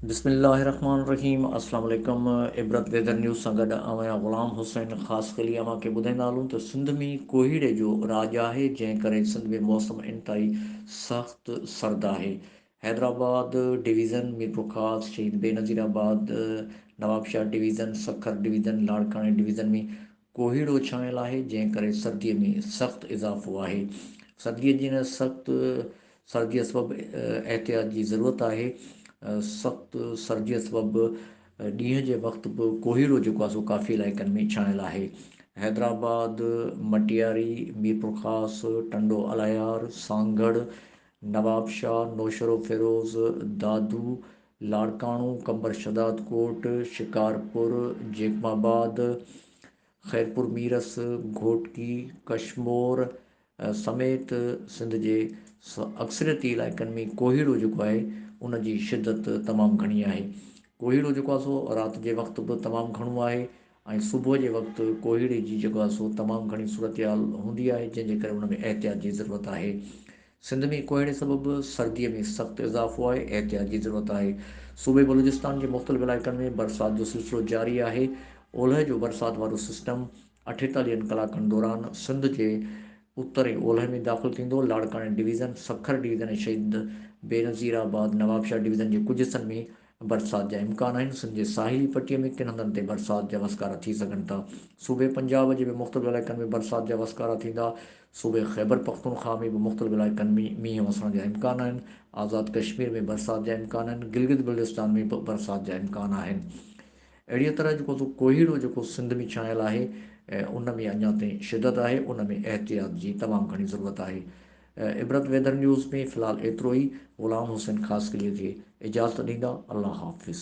بسم الله الرحمن الرحيم اسلام عليڪم عبرت ويدر نيوز سان گڏ آئون آهيان غلام حسين خاص خلي اوهان کي ٻڌائيندا هلون ته سنڌ ۾ ڪوهيڙي جو راڄ آهي جنهن ڪري سنڌ ۾ موسم انتهائي سخت سرد آهي Hyderabad division, Mirpurkhas, Shaheed Benazirabad, Nawabshah division, Sukkur division, لاڙڪاڻي ڊويزن ۾ ڪوهيڙو ڇانيل آهي، جنهن ڪري سردي ۾ سخت اضافو آهي. سردي جي ان سخت سرديء سبب احتياط جي ضرورت آهي. سخت سرديء سبب ڏينهن جي وقت به ڪوهيڙو جيڪو آهي سو ڪافي علائقن ۾ ڇانيل آهي. حيدرآباد، مٽياري، ميرپورخاص، ٽنڊو الايار، سانگهڙ، نوابشاهه، نوشهروفيروز، دادو، لاڙڪاڻو، قمبر شھدادڪوٽ، شڪارپور، جيڪب آباد، خيرپورميرس، گهوٽڪي، ڪشمور سميت سنڌ جي اڪثريتي علائقن ۾ ڪوهيڙو جيڪو آهي ان جي شدت تمام گهڻي آهي ڪوهيڙو جيڪو آهي سو رات جي وقت به تمام گهڻو آهي ۽ صبح جي وقت ڪوهيڙي جي جڳهه سو تمام گهڻي صورتحال هوندي آهي جنهن جي ڪري ان ۾ احتياط جي ضرورت آهي سنڌ ۾ ڪوهيڙي سبب سردي ۾ سخت اضافو آهي احتياط جي ضرورت آهي صوبي بلوچستان جي مختلف علائقن ۾ برسات جو سلسلو جاري آهي اولهه جو برسات وارو سسٽم اٺيتاليهن ڪلاڪن دوران سنڌ جي اتر ۽ اولهه ۾ داخل ٿيندو لاڙڪاڻي ڊويزن سکر ڊويزن ۽ شهيد بينظير آباد نوابشاهه ڊويزن جي ڪجهه حصن ۾ برسات جا امڪان آهن، سنڌ جي ساحلي پٽي ۾ ڪن هنڌن تي برسات جا وسڪارا ٿي سگهن ٿا، صوبي پنجاب جي به مختلف علائقن ۾ برسات جا وسڪارا ٿيندا، صوبي خيبرپختونخواهه ۾ به مختلف علائقن ۾ مينهن وسڻ جا امڪان آهن، آزاد ڪشمير ۾ برسات جا امڪان آهن، گلگت بلتستان ۾ به برسات جا امڪان آهن، اهڙيء طرح جيڪو سو ڪوهيڙو جيڪو سنڌ ۾ ڇانيل آهي ان ۾ اڃا تائين شدت آهي، ان ۾ احتياط جي تمام گهڻي ضرورت آهي، عبرت ويدر نيوز ۾ في الحال ايترو ئي غلام حسين خاصخيلي کي اجازت ڏيندا الله حافظ.